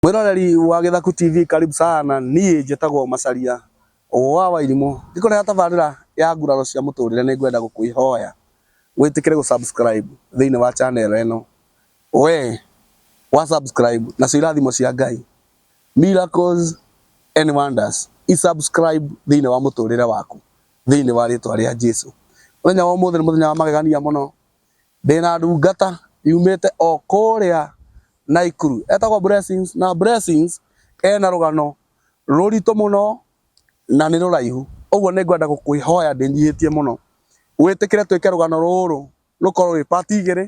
Mwĩroreri wa Gĩthaku TV karibu sana, niĩ njĩtagwo Macharia wa Wairimũ, ngĩkũrehera tabarĩra ya nguraro cia mũtũrĩre nĩ ngwenda gũkwĩhoya wĩtĩkĩre gũ subscribe thĩinĩ wa channel ĩno, we wa subscribe nacio irathimo cia Ngai, miracles and wonders i subscribe thĩinĩ wa mũtũrĩre waku thĩinĩ wa rĩtwa rĩa Jesũ. Mũthenya wa ũmũthĩ nĩ mũthenya wa magegania mũno, Ndĩ na ndungata yumĩte o kũrĩa Naikuru etagwo Blessings na Blessings ena rũgano rũritũ mũno na nĩ rũraihu. Ũguo nĩ ngwenda gũkũhoya ndĩnyihĩtie mũno wĩtĩkĩre twĩke rũgano rũrũ rũkorwo rwĩ part igĩrĩ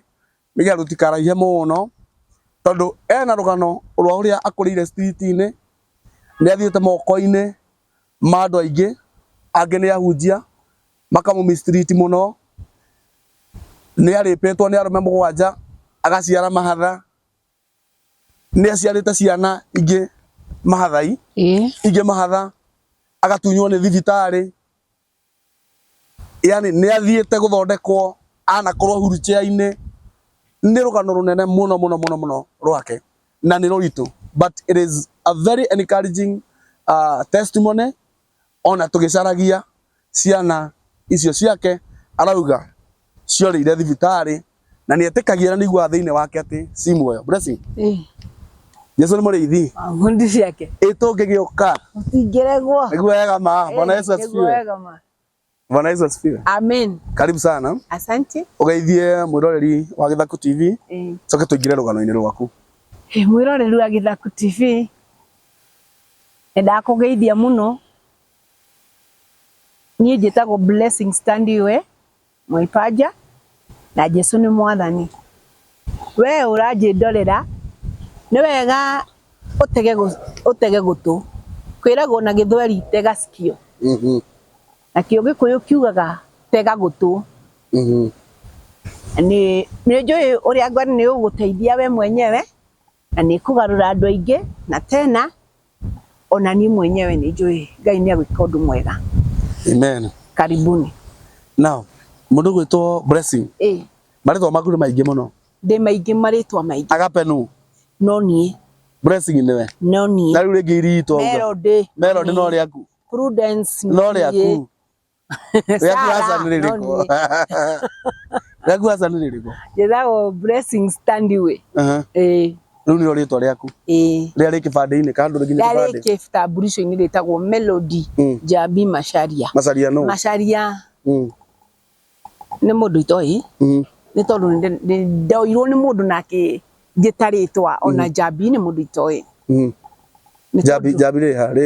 nĩ getha rũtikaraihe mũno tondũ ena rũgano rwa ũrĩa akũrĩire street inĩ, nĩ athiĩte moko-inĩ ma andũ aingĩ, angĩ nĩ ahunjia. makamũmistreat mũno, nĩ arĩpĩtwo nĩ arũme mũgwanja, agaciara mahatha, nĩ aciarĩte ciana ingĩ mahathai, ingĩ mahatha, agatunywo nĩ thibitarĩ, yaani nĩ athiĩte gũthondekwo anakorwo wheel chair inĩ, nĩ rũgano rũnene mũno mũno mũno mũno rwake, na nĩ rũritũ, but it is a very encouraging testimony Ona tũgĩcaragia ciana icio ciake arauga ciorĩire thibitarĩ na nĩetĩkagia na nĩaiguaga thĩinĩ wake atĩ ci muoyo. Blessing, Ĩĩ. Jesu nĩ mũrĩithi. Ah, Hundi ciake. Ĩ tũngĩgĩũka. Tũtingĩregwo. Nĩguo wega ma. Bwana Ĩĩ, Yesu nĩguo asifiwe. wega ma. Bwana Yesu asifiwe. Amen. Karibu sana. Asante. Ugeithie mwiroreri wa Githaku TV. Eh. Coke tuingire rugano-inĩ rwaku. Eh, mwiroreri wa Githaku TV. Nenda kugeithia muno. Niĩ njĩtagwo Blessing Standiwe Mwaipaja na Jesu nĩ mwathani. Wee ũranjĩ ndorera nĩ wega ũtege ũtege gũtũ kwĩragwo na gĩthweri tega cikio nakĩo gĩkũyũ kiugaga tega gũtũ nĩ njũĩ ũrĩa Ngai nĩ ũgũteithia we mwenyewe. Na nĩ ĩkũgarũra andũ aingĩ, na tena ona niĩ mwenyewe nĩ njũĩ Ngai nĩ agwĩka ũndũ mwega. Amen. Karibuni. Now, mũndũ gwĩtwo Blessing. Ĩĩ. Marĩtwa maku nĩ maingĩ mũno. Ndĩ maingĩ marĩtwa maingĩ. Agape nũ? No niĩ. Blessing nĩwe? No niĩ. Na rĩu rĩngĩ iritũ? Melody. Melody no rĩaku? Prudence no rĩaku? njĩtagwo blessing standway eh rĩu nĩrĩo rĩtwa rĩaku rĩrĩa rĩ kĩbandĩ-inĩ kana ndũrĩ nginya kĩbandĩ rĩrĩa rĩ kĩtambulisho-inĩ rĩtagwo Melody mm. Njambi Macharia Macharia no Macharia mm. nĩ mũndũ itoĩ mm. nĩ tondũ ndoirwo nĩ mũndũ nake njĩta rĩtwa ona Njambi nĩ mũndũ itoĩ Njambi Njambi rĩ ha rĩ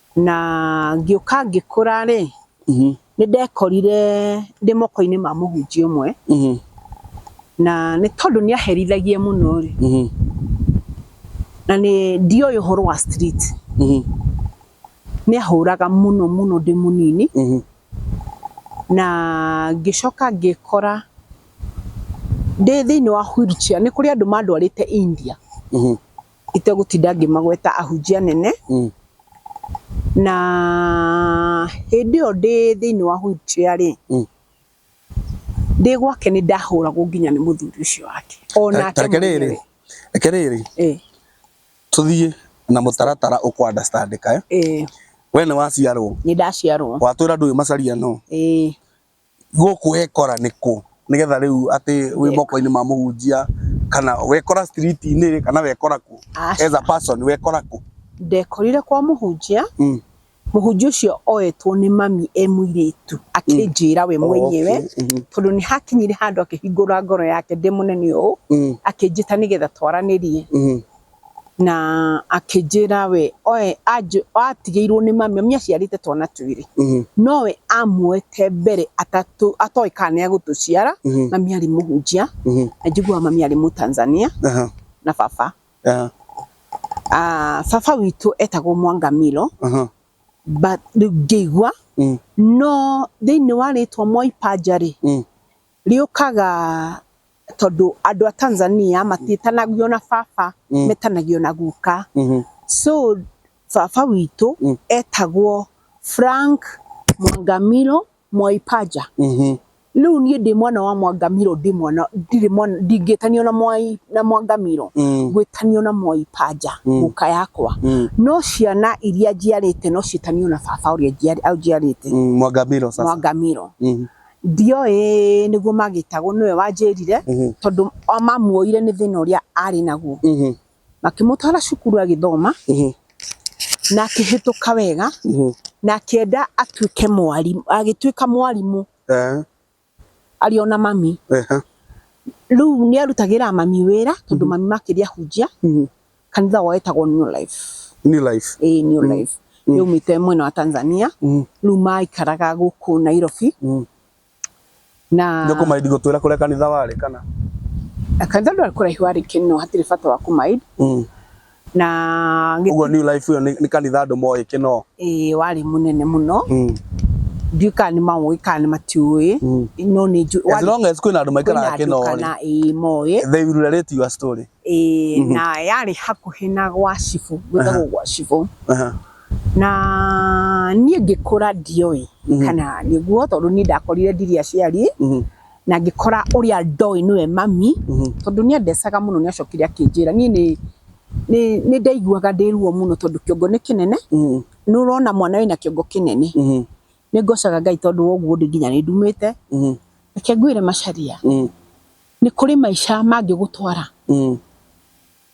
Na ngĩũka ngĩkũra rĩ, nĩ ndekorire ndĩ moko-inĩ ma mũhunjia ũmwe, na nĩ tondũ nĩ aherithagia mũno rĩ, na nĩ ndioĩ ũhoro wa street, nĩ ahũraga mũno mũno ndĩ mũnini, na ngĩcoka ngĩkora ndĩ thĩinĩ wa wheelchair, nĩ kũrĩ andũ mandwarĩte India. itegũtinda ngĩmagweta ahunjia anene Mm. na hĩndĩ ĩyo ndĩ thĩinĩ wa wheelchair rĩ Mm. ndĩ gwake nĩ ndahũragwo nginya nĩ mũthuri ũcio wake Ta- onake ta reke rĩrĩ mwenyewe. reke rĩrĩ Eh, tũthiĩ na mũtaratara ũkũ understand kae eh, we nĩ waciarwo nĩ ndaciarwo watwĩra ndũĩ macaria no eh, Gũkũ wekora nĩ kũ nĩgetha rĩu atĩ wĩ moko-inĩ ma mũhunjia kana wekora street inĩ rĩ kana wekora kũ as a person wekora kũ? Ndekorire kwa mũhunjia, Mm. mũhunjia ũcio oyetwo nĩ mami e mũirĩtu akĩnjĩra we mwenyewe Okay, mhm. tondũ nĩ hakinyire handũ akĩhingũra ngoro yake ndĩ mũnene ũũ Mm, akĩnjĩta nĩgetha twaranĩrie. mhm, Na akĩnjĩra we oe anjũ- atigĩirwo nĩ mami, mami aciarĩte twana twĩrĩ nowe amuoete mbere atatũ atoĩ kana nĩ agũtũciara, mami arĩ mũhunjia na njiguaga mami arĩ Mũtanzania na baba. Ah, baba witũ etagwo Mwangamilo but rĩu ngĩigua no thĩiniĩ wa rĩtwa Mwaipaja rĩ Rĩũkaga tondũ andũ a Tanzania matiĩtanagio na baba, metanagio na guka. So baba witũ etagwo Frank Mwangamilo Mwai Paja. Rĩu niĩ ndĩ mwana wa Mwangamilo ndingĩtanio na Mwai na Mwangamilo, ngwĩtanio na Mwai Paja guka yakwa. No ciana iria njiarĩte no ciĩtanio na baba ũrĩa ũnjiarĩte, Mwangamilo. Ndioĩ nĩguo magĩtagwo nĩwe wanjĩrire Mhm. tondũ o mamuoire nĩ thĩna ũrĩa arĩ naguo Mhm. makĩmũtwara cukuru agĩthoma Mhm. na akĩhĩtũka wega Mhm. na akĩenda atuĩke mwarimũ agĩtuĩka mwarimũ Eh, arĩ ona mami eh, rĩu nĩ arutagĩra mami wĩra tondũ mami makĩria hunjia mhm, kanitha wao wetagwo new life new life ĩĩ new life Mm. yaumĩte mwena wa tanzania Mm. rĩu maikaraga gũkũ nairobi Mm. na ndio kumaidi gutwira kuria kanitha wari kana kanitha ndwarĩ kũraihu warĩ kĩno hatirĩ bata wa kũmaid Mm. na gĩ- uguo new life iyo ni ni kanitha andu moĩ kino ĩĩ warĩ mũnene mũno Mm. ndiũ kana nĩ maũĩ kana nĩ matiũĩ Mm. no nĩ njũ- as warĩ- long as kwina andu kwĩna maikara andũ kino kana ĩĩ moĩ they will relate your story Ĩĩ, Mhm. na yarĩ hakuhĩ na gwa cibũ gwĩtagwo gwa cibũ Aha. na niĩ ngĩkũra ndioĩ Mhm. kana nĩguo tondũ niĩ ndakorire ndirĩ aciari Mhm. na ngĩkora ũrĩa ndoĩ nĩwe mami Mhm. tondũ nĩ andecaga mũno nĩ acokire akĩnjĩra niĩ nĩ nĩ- nĩ ndaiguaga ndĩ ruo mũno tondũ kĩongo nĩ kĩnene Mhm. nĩ ũrona mwana wĩna kĩongo kĩnene Mhm. nĩ ngocaga ngai tondũ wa ũguo ndĩ nginya nĩ ndumĩte mm. reke ngwĩre macaria mm. nĩ kũrĩ maica mangĩgũtwara mm.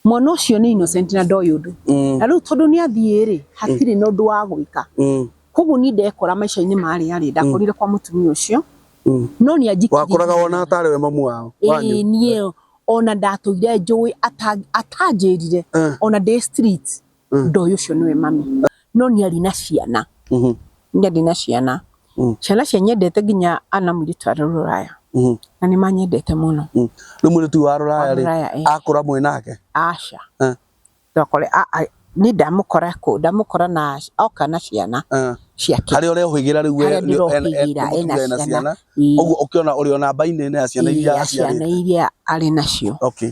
mwana ũcio nĩ innocent na ndoĩ ũndũ mm. na rĩu tondũ nĩ athiĩ rĩ hatirĩ mm. na ũndũ wa gwĩka mm. koguo niĩ ndekora maica-inĩ marĩ arĩ mm. ndakorire mm. kwa mũtumia ũcio mm. no nĩ anjikirie wakoraga wona atarĩ we mamu wao ĩĩ niĩ ona ndatũire njũĩ atanjĩrire eh. ona ndĩ street Mm. ndoĩ ũcio nĩwe mami no nĩ arĩ na ciana Mhm. nĩ arĩ na ciana Mm. ciana cia nyendete nginya ana mũirĩtu arĩ rũraya Mhm. na nĩ manyendete mũno Mm. Rĩu mũirĩtu wa rũraya rĩ Rũraya, eh. akũra mwĩ nake. aca Eh. ndokore nĩ ndamũkora kũ ndamũkora na oka na ciana Eh. ciake Harĩa ũreũhĩgĩra rĩu Harĩa ndĩrohĩgĩra, ena ena ciana. ciana. Ii, Ũguo ũkĩona ũrĩ ona mbainĩ ya ciana ii, iria ya ciana aciarĩte. iria arĩ nacio Okay.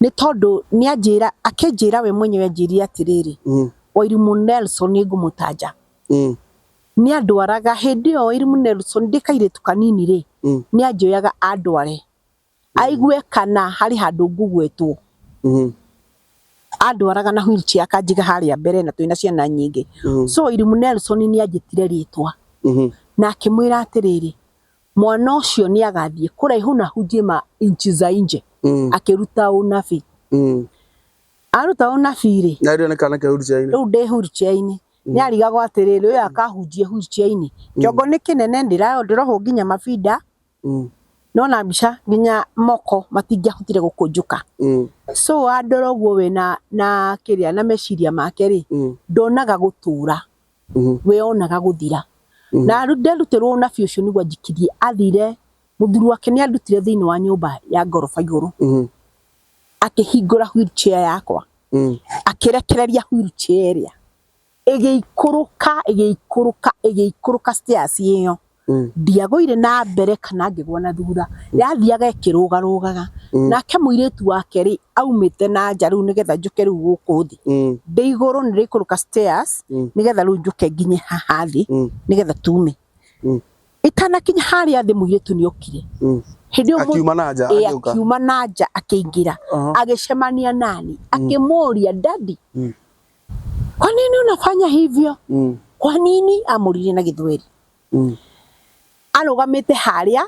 Nĩ tondũ nĩ anjĩra, akĩnjĩra we mwenyewe anjĩrire atĩrĩrĩ, Mm. Wairimu Nelson nĩ ngũmũtanja. Mm. Nĩ andwaraga hĩndĩ ĩyo Wairimu Nelson ndĩ kairĩtu kanini rĩ, Mm. nĩ anjoyaga andware. Aigue kana harĩ handũ ngũgwetwo. Mhm. Andwaraga na wheelchair akanjiga harĩa mbere na twĩ na ciana nyingĩ. Mm. So Wairimu Nelson nĩ anjĩtire rĩtwa Mhm. na akĩmwĩra atĩrĩrĩ, mwana ũcio nĩ agathiĩ kũraihu na ahunjie ma inchi za inje Mm. akĩruta ũnabii Mm. aruta ũnabii rĩ Na rĩo nĩ kana kĩa Hurichaini. rĩu ndĩ hurutiainĩ nĩ arigagwo atĩrĩrĩ ũyũ akahunjie hurutiainĩ kĩongo nĩ kĩnene ndĩrayo ndĩrohwo nginya mabinda Mm. nona mbica nginya moko matingĩahotire gũkũnjũka Mm. so andora ũguo we na na kĩrĩa na meciria make rĩ Mm. ndonaga gũtũra weyonaga gũthira na nderutĩrwo ũnabii ũcio nĩguo anjikirie athire mũthuri wake nĩ andutire thĩinĩ wa nyũmba ya ngoroba igũrũ akĩhingũra wheelchair yakwa akĩrekereria wheelchair ĩrĩa ĩgĩikũrũka ĩgĩikũrũka ĩgĩikũrũka stairs ĩyo. Mm. ndiagũire na mbere kana ngĩgwa na thutha yathiaga ĩkĩrũgarũgaga Mm. nake mũirĩtu wake rĩ aumĩte na nja rĩu nĩgetha njũke rĩu gũkũ thĩ Mm. ndĩ igũrũ nĩ rĩikũrũka stairs Mm. nĩgetha rĩu njũke nginye haha thĩ Mm. nĩgetha tume Mm. itanakinya harĩa thĩ mũirĩtu nĩ okire Mm. hĩndĩ ĩyo mũ- akiuma na nja ĩ, agĩũka akiuma na nja akĩingĩra Aha. agĩcemania nani akĩmũria dadi Mm. kwa nini unafanya hivyo Mm. kwa nini amũririe na gĩthweri Mm. arũgamĩte harĩa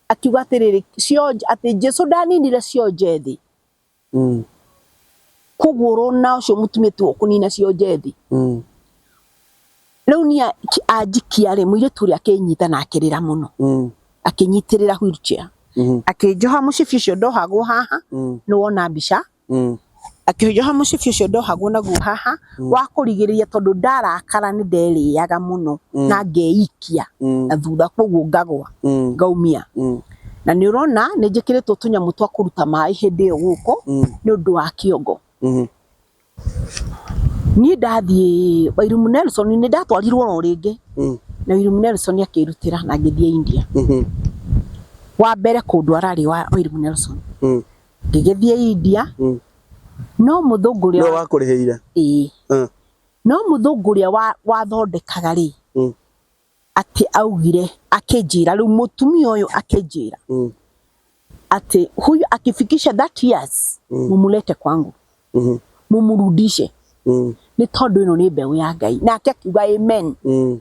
akiuga atĩrĩrĩ cionje atĩ jesu ndaninire cionje thĩ Mm. kũgũrũ na ũcio mũtumia tuo kũnina cionje thĩ Mm. rĩu niĩ anjikia rĩ mũirĩtu ũrĩa akĩnyita na akĩrĩra mũno Mm. akĩnyitĩrĩra wheelchair Mm. akĩnjoha mũcibi ũcio ndohagwo haha Mm. nĩwona mbica Mm. akĩnjoha mũcibi ũcio ndohagwo naguo haha Mm. wa kũrigĩrĩria tondũ ndarakara nĩ nderĩaga mũno Mm. na ngeikia Mm. na thutha koguo ngagwa Mm. ngaumia Mm. na nĩ ũrona nĩ njĩkĩrĩtwo tũnyamũ twa kũruta maĩ hĩndĩ ĩyo gũkũ Mm. nĩ ũndũ wa kĩongo Mhm. niĩ ndathiĩ Wairimu Nelson nĩ ndatwarirwo oro rĩngĩ Mm. na Wairimu Nelson akĩrutĩra na ngĩthiĩ India Mhm. wa mbere kũndwara rĩ wa Wairimu Nelson Mm. ngĩgĩthiĩ India Mm. no mũthũngũ ũrĩa nĩwe wakũrĩhĩire ĩĩ Mm. no mũthũngũ ũrĩa wa- wathondekaga rĩ Mm. atĩ augire akĩnjĩra rĩu mũtumia ũyũ akĩnjĩra Mm. atĩ huyu akifikisha that years Mm. mumulete kwangu Mhm. mumurudishe Mm. nĩ tondũ ĩno nĩ mbeũ ya ngai nake akiuga amen Mm.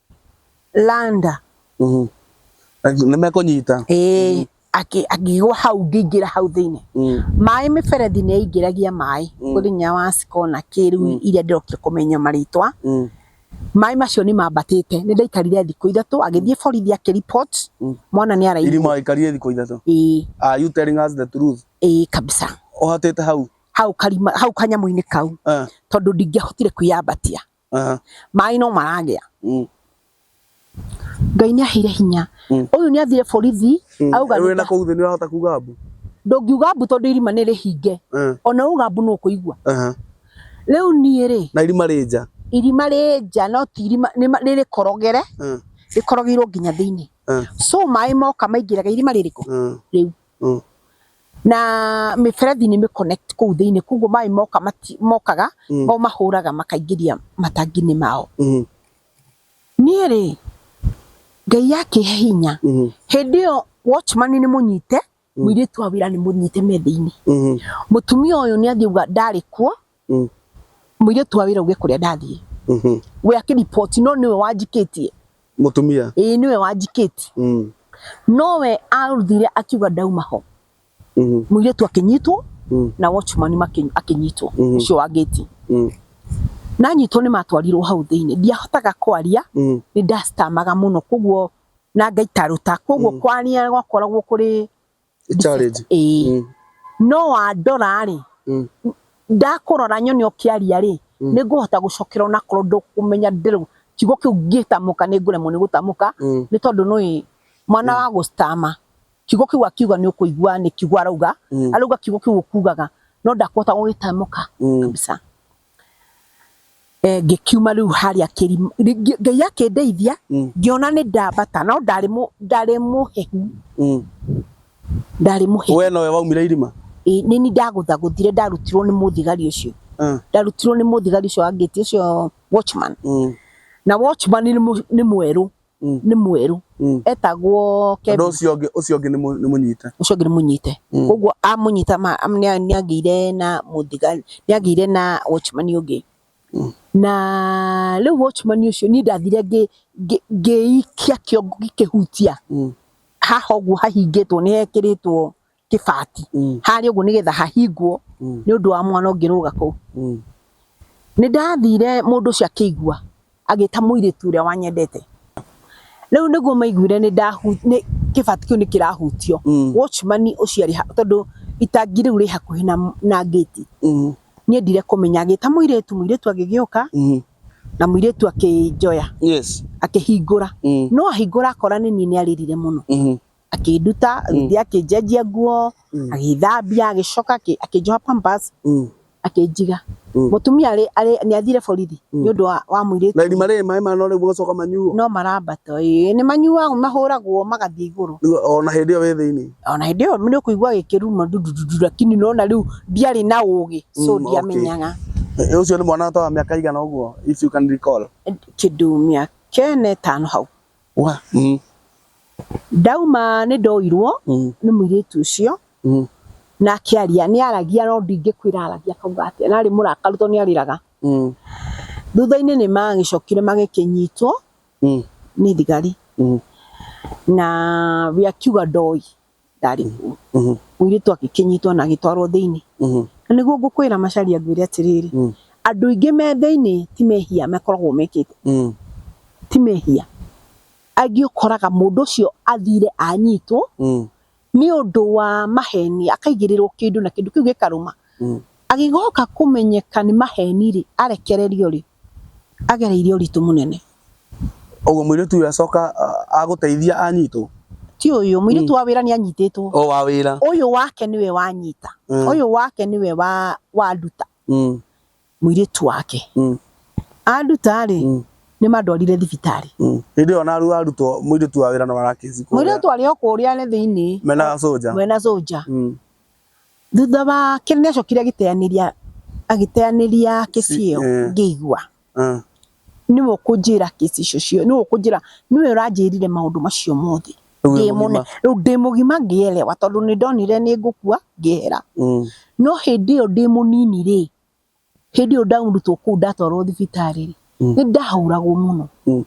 landa Mhm. Aki- nĩmekũnyita ĩĩ akĩ- akĩgwa hau ngĩingĩra hau thĩinĩ Mm. maĩ mĩberethi nĩ yaingĩragia maĩ Mm. kũrĩ nginya wa cikona kĩrĩu Mm. iria ndĩrokire kũmenya marĩtwa Mm. maĩ macio nĩ mambatĩte nĩ ndaikarire thikũ ithatũ agĩthiĩ borithi akĩripot Mm. mwana nĩ araigua irima ikarie thikũ ithatũ ĩĩ are you telling us the truth ĩĩ kabisa ũhatĩte hau hau karima hau kanyamũ-inĩ kau Eh, tondũ ndingĩahotire kwĩyambatia Aha. maĩ no maragĩa Mm. ngai nĩ aheire hinya Mm. ũyũ nĩ athire borithi Mm. auga Rĩu wĩna nĩta- kũu thĩ nĩ ũrahota kuga mbu. ndũngiuga mbu tondũ irima nĩ rĩhinge Eh, ona uga mbu nĩ ũkũigua aha. rĩu niĩ rĩ Na irima rĩ nja. irima rĩ nja no ti irima nĩ ma- nĩ rĩkorogere Eh, rĩkorogeirwo nginya thĩinĩ eh, so maĩ moka maingĩraga irima rĩrĩkũ eh. rĩu Mm. na mĩberethi nĩ mĩconnect kũu thĩinĩ koguo maĩ moka mati- mokaga Mm. o mahũraga makaingĩria matangi-inĩ mao Mhm. niĩ rĩ ngai yakĩhe hinya Mhm. hĩndĩ ĩyo watchman nĩ mũnyite mũirĩtu wa wĩra nĩ mũnyite me thĩinĩ Mhm. mũtumia ũyũ nĩ athiĩ uga ndarĩ kuo Mm. Mũirĩtu wa wĩra uge kũrĩa ndathiĩ. Mhm. We akĩripoti no nĩwe wanjikĩtie. Mũtumia. Ĩĩ nĩwe wanjikĩtie. Mm. No we aruthire akiuga ndauma ho. Mhm. Mũirĩtu akĩnyitwo Mm. na watchman makĩ- akĩnyitwo Mhm. ũcio wa gate. Mm. Nanyitwo nĩ matwarirwo hau thĩinĩ. Ndiahotaga kwaria Mm. nĩ ndastamaga mũno koguo na ngaikaruta koguo kwaria gwakoragwo kũrĩ challenge ĩĩ Mm. no wandora rĩ Mm. ndakũrora nyone ũkĩaria rĩ Mm. nĩ ngũhota gũcokera onakorwo ndũkũmenya ndĩrũ kiugo kĩu ngĩtamũka nĩ ngũremwo nĩ gũtamũka Mm. nĩ tondũ nũĩ mwana wa gũstama kiugo kĩu akiuga nĩ ũkũigua nĩ kiugo arauga Mm. arauga kiugo kĩu ũkugaga no ndakũhota gũgĩtamũka Mm. kabisa eh, ngĩkiuma rĩu harĩa kĩrima ngĩ- ngai akĩndeithia Mm. ngĩona nĩ ndambata no ndarĩ mũ- ndarĩ mũhehu Mm. ndarĩ mũhehu we nowe waumire irima Ĩ, nĩ ni ndagũthagũthire ndarutirwo nĩ mũthigari ũcio Ah, ndarutirwo nĩ mũthigari ũcio angĩti ũcio watchman mm. na watchman nĩ mũ- nĩ mwerũ Mm. nĩ mwerũ Mm. etagwo Kebi Tondũ ũcio ũngĩ ũcio ũngĩ nĩ mũ- nĩ mũnyite. ũcio ũngĩ nĩ mũnyite Mm. koguo amũnyita ma- am- nĩa- nĩagĩire na mũthigari nĩagĩire na watchman ũngĩ Mm. na rĩu watchman ũcio niĩ ndathire ngĩ- ngĩ- ngĩikia kĩongo gĩkĩhutia Mm. haha ũguo hahingĩtwo nĩ hekĩrĩtwo kĩbati Mm. harĩa ũguo nĩgetha hahingwo Mm. nĩ ũndũ wa mwana ũngĩrũga kũu Mm. nĩ ndathire mũndũ ũcio akĩigua agĩta mũirĩtu ũrĩa wanyendete rĩu nĩguo maiguire nĩ ndahu- nĩ- kĩbati kĩu nĩ kĩrahutio Mm. watchman ũcio arĩ ha- tondũ itangi rĩu rĩ hakuhĩ na- na ngĩti Mm. niĩ ndire kũmenya agĩta mũirĩtu mũirĩtu agĩgĩũka Mm. na mũirĩtu akĩnjoya Yes. akĩhingũra Mm. no ahingũra akora nĩ niĩ nĩ arĩrire mũno Mhm. akĩnduta agĩthiĩ akĩnjenjia nguo agĩthambia agĩcoka akĩ- akĩnjoha pampers akĩnjiga mũtumia arĩ arĩ nĩ athire borithi nĩ ũndũ wa wa mũirĩtu na irima rĩrĩ maĩ manore mũgacoka manyuo no marambata ĩĩ nĩ manyuagwo mahũragwo magathiĩ igũrũ Rĩu ona hĩndĩ ĩyo wĩ thĩinĩ ona hĩndĩ ĩyo nĩ ũkũigua gĩkĩruma ndundu lakini nona rĩu ndiarĩ na ũgĩ so Mm, ndiamenyaga Eh, ũcio nĩ mwana ta wa mĩaka igana ũguo if you can recall kĩndũ mĩaka ĩna ĩtano hau Wa, mm, Ndauma nĩ ndoirwo mm, nĩ mũirĩtu ũcio mm, na akĩaria nĩ aragia no ndingĩkwĩra aragia akauga atĩa na arĩ mũrakaru tondũ nĩ arĩraga mm, thutha-inĩ nĩ magĩcokire magĩkĩnyitwo mm, nĩ thigari mm, na we akiuga ndoĩ ndarĩ mũru Mhm. mũirĩtu agĩkĩnyitwo na agĩtwarwo thĩinĩ Mhm. na nĩguo ngũkwĩra macaria ngwĩre atĩrĩrĩ Mm. andũ aingĩ me thĩinĩ ti mehia makoragwo mekĩte Mhm. ti mehia angĩ ũkoraga mũndũ ũcio athire anyitwo Mhm. nĩ ũndũ wa maheni akaigĩrĩrwo kĩndũ na kĩndũ kĩu gĩkarũma Mhm. agĩgoka kũmenyeka nĩ maheni rĩ arekererio rĩ agereire ũritũ mũnene Ũguo mũirĩtu ũyũ acoka ah, agũteithia anyitwo ti ũyũ mũirĩtu wa wĩra nĩ anyitĩtwo o wa wĩra ũyũ wake nĩwe wanyita Mm. ũyũ wake nĩwe wa wanduta Mm, mũirĩtu wake mm, anduta rĩ mm, nĩ mandwarire thibitarĩ mm. hĩndĩ ĩyo naru arutwo mũirĩtu wa wĩra na warakĩci mũirĩtu arĩ o kũrĩa nĩ thĩinĩ mena soja mwena soja Mm. thutha wake nĩ acokire agĩteanĩria agĩteanĩria kĩciĩo Eh. ngĩigua Mm. nĩwe ũkũnjĩra kĩsi icio cio nĩwe ũkũnjĩra nĩwe ũranjĩrire maũndũ macio mothe Rĩu wĩ ndĩ mũgima. mũne rĩu ndĩ mũgima ngĩelewa tondũ nĩ ndonire nĩ ngũkua ngĩehera Mm. no hĩndĩ ĩyo ndĩ mũnini rĩ hĩndĩ ĩyo ndaurutwo kũu ndatwarwo thibitarĩ rĩ Mm. nĩ ndahũragwo mũno Mm.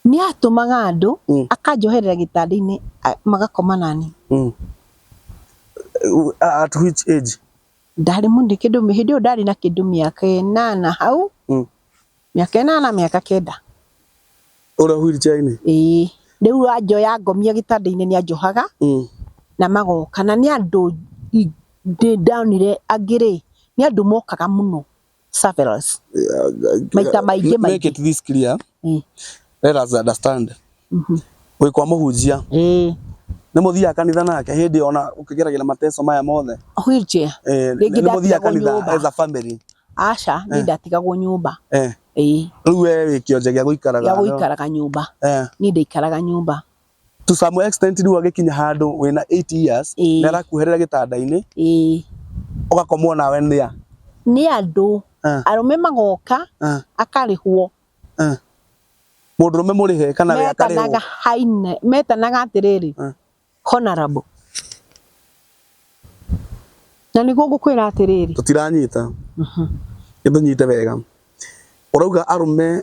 nĩ atũmaga andũ Mm. akanjoherera gĩtanda-inĩ a- magakoma nani Mm. Uh, at which age? ndarĩ mũndũ kĩndũ hĩndĩ ĩyo ndarĩ na kĩndũ mĩaka ĩnana hau Mm. mĩaka ĩnana mĩaka kenda Ũrĩa wheelchair-inĩ. ĩĩ rĩu anjoya ngomia gĩtanda-inĩ nĩ anjohaga Mm. na magoka na nĩ andũ i- ndĩ ndonire angĩ rĩ nĩ andũ mokaga mũno Severals. Maita maingĩ Make maingĩ. it this clear. Mm. Let us understand. Mhm. Wĩ kwa mũhunjia. Eh, Nĩ mũthiaga kanitha nake hĩndĩ ona ũkĩgeragĩra mateso maya mothe. wheelchair. Eh, Rĩngĩ nĩ mũthiaga ndatigagwo kanitha nyũmba. as a family. Aca, niĩ ndatigagwo nyũmba. Eh. Eh, Rĩu we wĩ kĩonje gĩa gũikaraga. ya no? gũikaraga nyũmba. Eh. Niĩ ndaikaraga nyũmba. to some extent rĩu agĩkinya handũ wĩna 8 years Ĩĩ. nĩ arakuherera gĩtanda-inĩ ĩĩ ũgakomwo nawe nĩ ya nĩ andũ Ah. arũme magoka Ah. akarĩhwo mũndũrũme mũrĩhe kana we akarĩhwo metanaga haine metanaga atĩrĩrĩ Ah. honorable na nĩguo ngũkwĩra atĩrĩrĩ tũtiranyita nĩtũnyite wega ũrauga arũme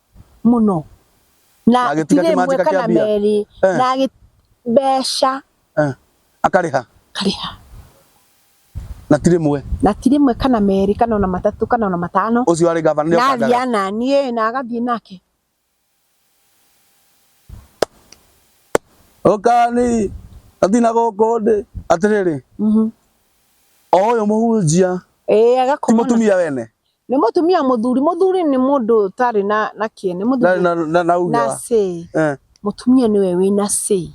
mũno na Na agĩtiga tirĩ kĩmanjĩka ĩmwe kĩa kana mbia? merĩ Eh. na agĩ- mbeca Eh, akarĩha karĩha na ti rĩmwe na ti rĩmwe kana merĩ kana ona matatũ kana ona matano ũcio arĩ gavana nĩ na athiĩ okangaga ananiĩ na agathiĩ nake ũkani athina gũkũ ndĩ atĩrĩrĩ Mhm. o ũyũ mũhunjia ĩĩ ti agakomana mũtumia wene nĩ mũtumia mũthuri mũthuri nĩ mũndũ ũtarĩ na na kĩene na mũthuri na na na uga na say eh mũtumia nĩwe wĩ na say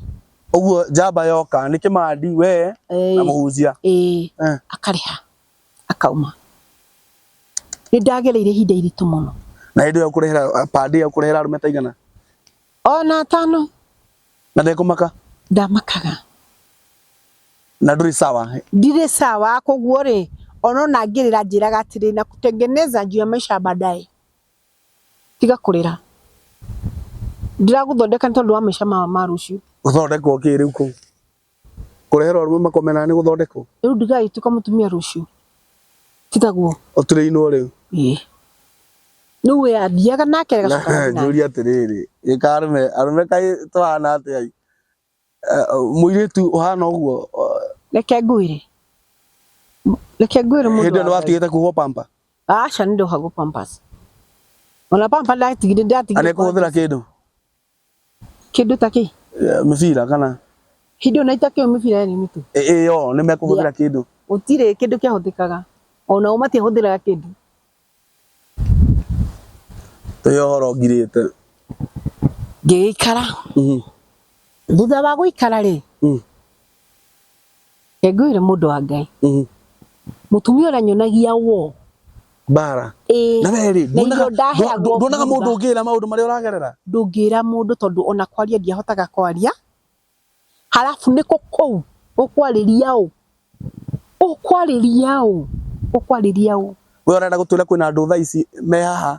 uguo njamba yoka nĩ kĩmandi we na eh mũhunjia eh eh akarĩha akauma nĩ ndagereire ihinda iritũ mũno na hĩndĩ ĩyo kũrehera pande ĩyo kũrehera arũme taigana Ona atano. Na ndekũmaka. Ndamakaga. Na ndũrĩ sawa. Ndirĩ sawa koguo rĩ ona ona ngĩrĩra njĩraga atĩrĩ na kutengeneza juu ya maisha baadaye tiga kũrĩra ndĩragũthondeka nĩ tondũ wa maisha ma ma rũciũ. Gũthondekwo kĩ rĩu kũu? Kũreherwo arũme makomenaga nĩ gũthondekwo. Rĩu ndigagĩtuĩka mũtumia rũciũ. Ti taguo? Ũturĩinwo rĩu. Ĩĩ. Rĩu we athiaga nake agacoka agathiĩ nake. Njũrie atĩrĩrĩ, ĩ ka arũme, arũme kaĩ tũhana atĩa i? Mũirĩtu ũhana ũguo. Reke ngwĩre. Reke ngwĩre mũndũ wa Ngai. Hĩndĩ ĩyo nĩwatigĩte kũhũrwo pamper? Aca nĩndohagwo pampers. Ona pamper ndatigire ndatigire. Anekũhũthĩra kĩndũ? Kĩndũ ta kĩ? Eh, Mĩbira kana Hĩndĩ ĩyo na itakĩũĩ mĩbira yarĩ mĩritũ. ĩ- ĩyo nĩ mekũhũthĩra kĩndũ. Gũtirĩ kĩndũ kĩahũthĩkaga. O nao matiahũthĩraga kĩndũ. Ũyũ ũhoro ngirĩte. Ngĩgĩikara. Mhm. Thutha wa gũikara-rĩ, Mm. Reke ngwĩre mũndũ wa Ngai. Mm. Mũtumia ũrĩa nyonagia wo. Bara. Ĩĩ. Na we rĩ, Na irio nduonaga- ndaheagwo ndu- nduonaga bunda. mũndũ ũngĩra maũndũ marĩa ũragerera? ndũngĩra mũndũ tondũ ona kwaria ndiahotaga kwaria halafu nĩkũ kũu ũkwarĩria ũ ũkwarĩria ũ ũkwarĩria ũ We ũrenda gũtwĩra kwĩna andũ thaa ici me haha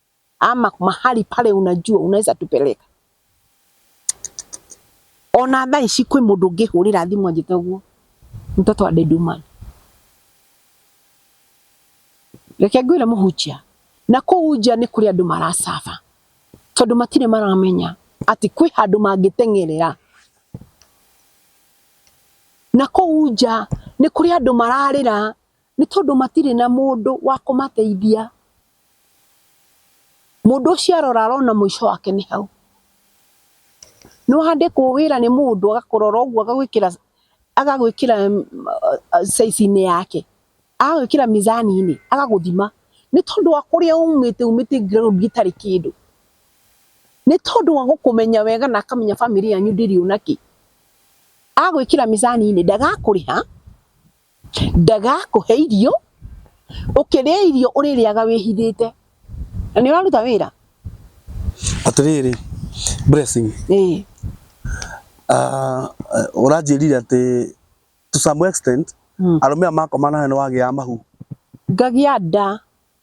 ama mahali pale unajua unaweza tupeleka ona thaa ici kwĩ mũndũ ũngĩhũrĩra thimũ anjĩte ũguo mtoto wa deduman reke ngwĩre mũhunjia na kũu nja nĩ kũrĩ andũ maracaba tondũ matirĩ maramenya atĩ kwĩ handũ mangĩteng'erera na kũu nja nĩ kũrĩ andũ mararĩra Nĩ tondũ matirĩ na mũndũ wa kũmateithia. Mũndũ ũcio arora arona mũico wake nĩ hau. Nĩ wandĩkwo wĩra nĩ mũndũ agakũrora ũguo agagwĩkĩra agagwĩkĩra size inĩ yake, agagwĩkĩra mizani inĩ agagũthima. Nĩ tondũ wa kũrĩa umĩte umĩte ground itarĩ kĩndũ. Nĩ tondũ wa gũkũmenya wega na akamenya famĩlĩ yanyu ndĩrĩ ona kĩ, agagwĩkĩra mizani inĩ ndagakũrĩha. ndagakũhe irio, ũkĩrĩa irio ũrĩrĩaga wĩhithĩte, na nĩ ũraruta wĩra? Atĩrĩrĩ Blessing, ĩĩ ah, ũranjĩrire atĩ to some extent arũme aya makoma nawe nĩ wagĩaga mahu. Ngagĩa nda,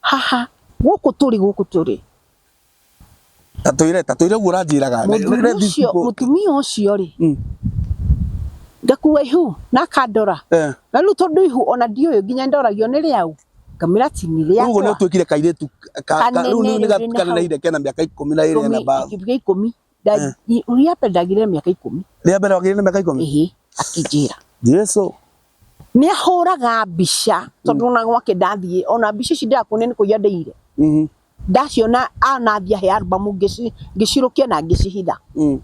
haha gũkũ tũrĩ gũkũ tũrĩ tatwire tatwire guo ranjiraga mutumia ucio ri hmm. ngakua ihu na akandora eh. na riu tondu ihu ona ndiuyu nginya ndoragio ni riau kamira tini ria uguo ni utwikire kairitu riu ni gathikana na ireke na miaka ikumi na iri na ba ikumi Nda- i- rĩa mbere ndagire mĩaka ikũmi rĩa mbere wagĩire na mĩaka ikũmi ĩhĩ akĩnjĩra jesu nä ahåraga mbica tondå ona gwake ndathiä ona mbica ici ndärakuonia nä kå ia ndäire Mhm. ndaciona anathia he albamu ngä cirå kia na ngä cihitha Mm.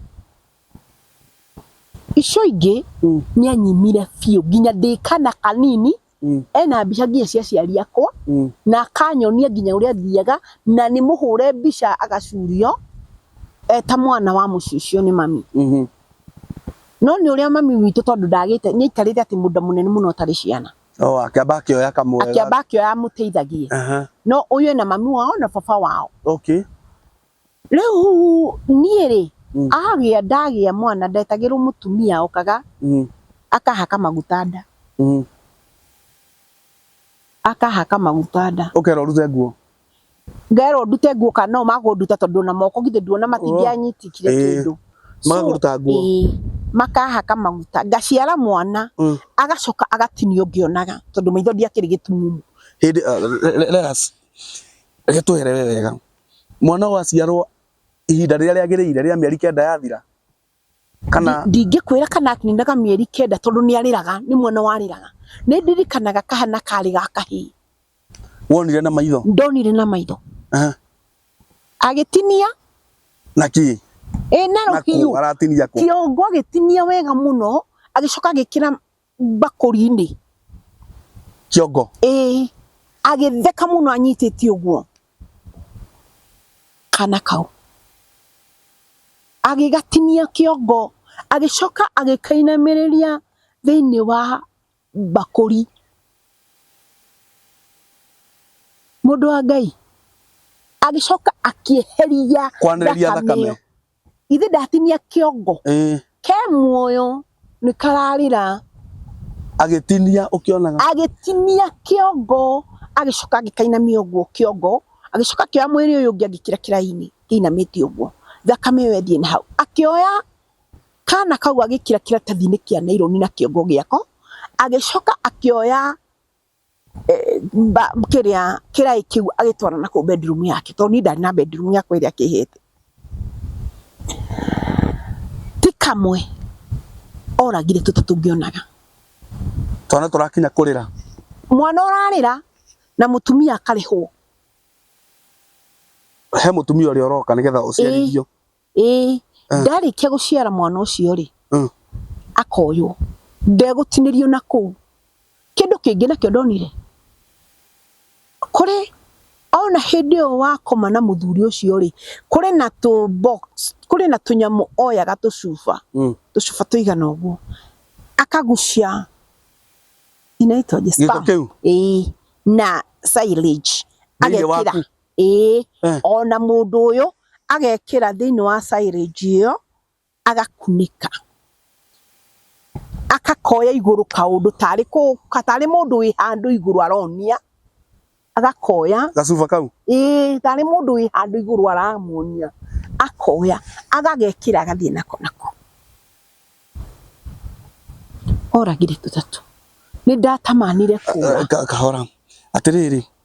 icio ingä Mm. nä anyimire biå nginya ndä kana kanini Mm. ena mbica nginya cia aciari akwa Mm. na akanyonia nginya ũrĩa thiaga na nĩ mũhũre mbica agacurio eta mwana wa mũciĩ ũcio nĩ mami Mhm. no nĩ ũrĩa mami witũ tondũ ndagĩte nĩ aikarĩte atĩ mũndũ mũnene mũno atarĩ ciana Oh, akĩamba akĩoya kamwe. akĩamba akĩoya amũteithagie Aha. no ũyũ ena mami wao na baba wao Okay. Rĩu niĩ rĩ, Mm. agĩa ndagĩa mwana ndetagĩrwo mũtumia okaga Mm. akahaka maguta nda, Mm. akahaka maguta nda. Ũkera ũrute nguo. Ngerwo ndute nguo kana nao makũnduta tondũ na moko githĩ nduona matingĩanyitikire Ĩĩ. kĩndũ. So, Magakũruta nguo. ĩĩ, makahaka maguta. Ngaciara mwana, Mm. agacoka agatinio ngĩonaga tondũ maitho ndiakĩrĩ gĩtumumu. Hĩndĩ, uh, let us, reke twehere we wega. Mwana ũyũ aciarwo ihinda rĩrĩa rĩagĩrĩire rĩrĩa mĩeri kenda yathira kana ndingĩkwĩra kana akininaga mĩeri kenda tondũ nĩ arĩraga nĩ mwana warĩraga nĩ ndirikanaga kahana karĩ ga kahĩĩ wonire na maitho ndonire na maitho agĩtinia na kĩ ĩ na rũhiũ aratinia kĩongo agĩtinia wega mũno agĩcoka agĩkĩra mbakũri-inĩ kĩongo. Ĩĩ, agĩtheka mũno anyitĩtie ũguo kana kau. Agĩgatinia kĩongo, agĩcoka agĩkainamĩrĩria thĩinĩ wa mbakũri. Mũndũ wa Ngai, agĩcoka akĩeheria thakame ĩyo. Ithe ndatinia kĩongo. Eh. Ke muoyo nĩ kararĩra. Agĩtinia ũkĩonaga. Agĩtinia kĩongo agĩcoka agĩkainamia ũguo kĩongo agĩcoka akĩoya mwĩrĩ ũyũ ũngĩ agĩkĩra kĩrainĩ kĩinamĩte ũguo thakame ĩyo ĩthiĩ na hau akĩoya kana kau agĩkĩra kĩratathi-inĩ kĩa naironi na kĩongo gĩako agĩcoka akĩoya kĩrĩa kĩraĩ kĩu agĩtwara na kũu bedroom yake tondũ niĩ ndarĩ na bedroom yakwa ĩrĩa akĩhete. Ti kamwe oragire tũtũ tũngĩonaga. Twana tũrakinya kũrĩra. Mwana ũrarĩra na mũtumia akarĩhwo. He mũtumia ũrĩa ũroka nĩgetha ũciarithio. ĩĩ Ah. ndarĩkia gũciara mwana ũcio rĩ Mm. akoywo ndegũtinĩrio na kũu kĩndũ kĩngĩ nakĩo ndonire kũrĩ ona hĩndĩ ĩyo wakoma na mũthuri ũcio rĩ kũrĩ na tũ box kũrĩ na tũnyamũ oyaga tũcuba Mm. tũcuba tũigana ũguo akagucia inaitwaje Gĩko sperm? kĩu. Ĩĩ, na silage Thĩinĩ agekĩra waku. Ĩĩ, Eh. o na mũndũ ũyũ agekĩra thĩinĩ wa silage ĩyo agakunĩka agakoya igũrũ kaũndũ tarĩ kũ- ka- tarĩ mũndũ wĩ handũ igũrũ aronia agakoya gacuba kau ĩĩ tarĩ mũndũ wĩ handũ igũrũ aramuonia akoya agagekĩra agathiĩ nako nako oragire tũtatũ nĩ ndatamanire kũra Eh, ka- kahora atĩrĩrĩ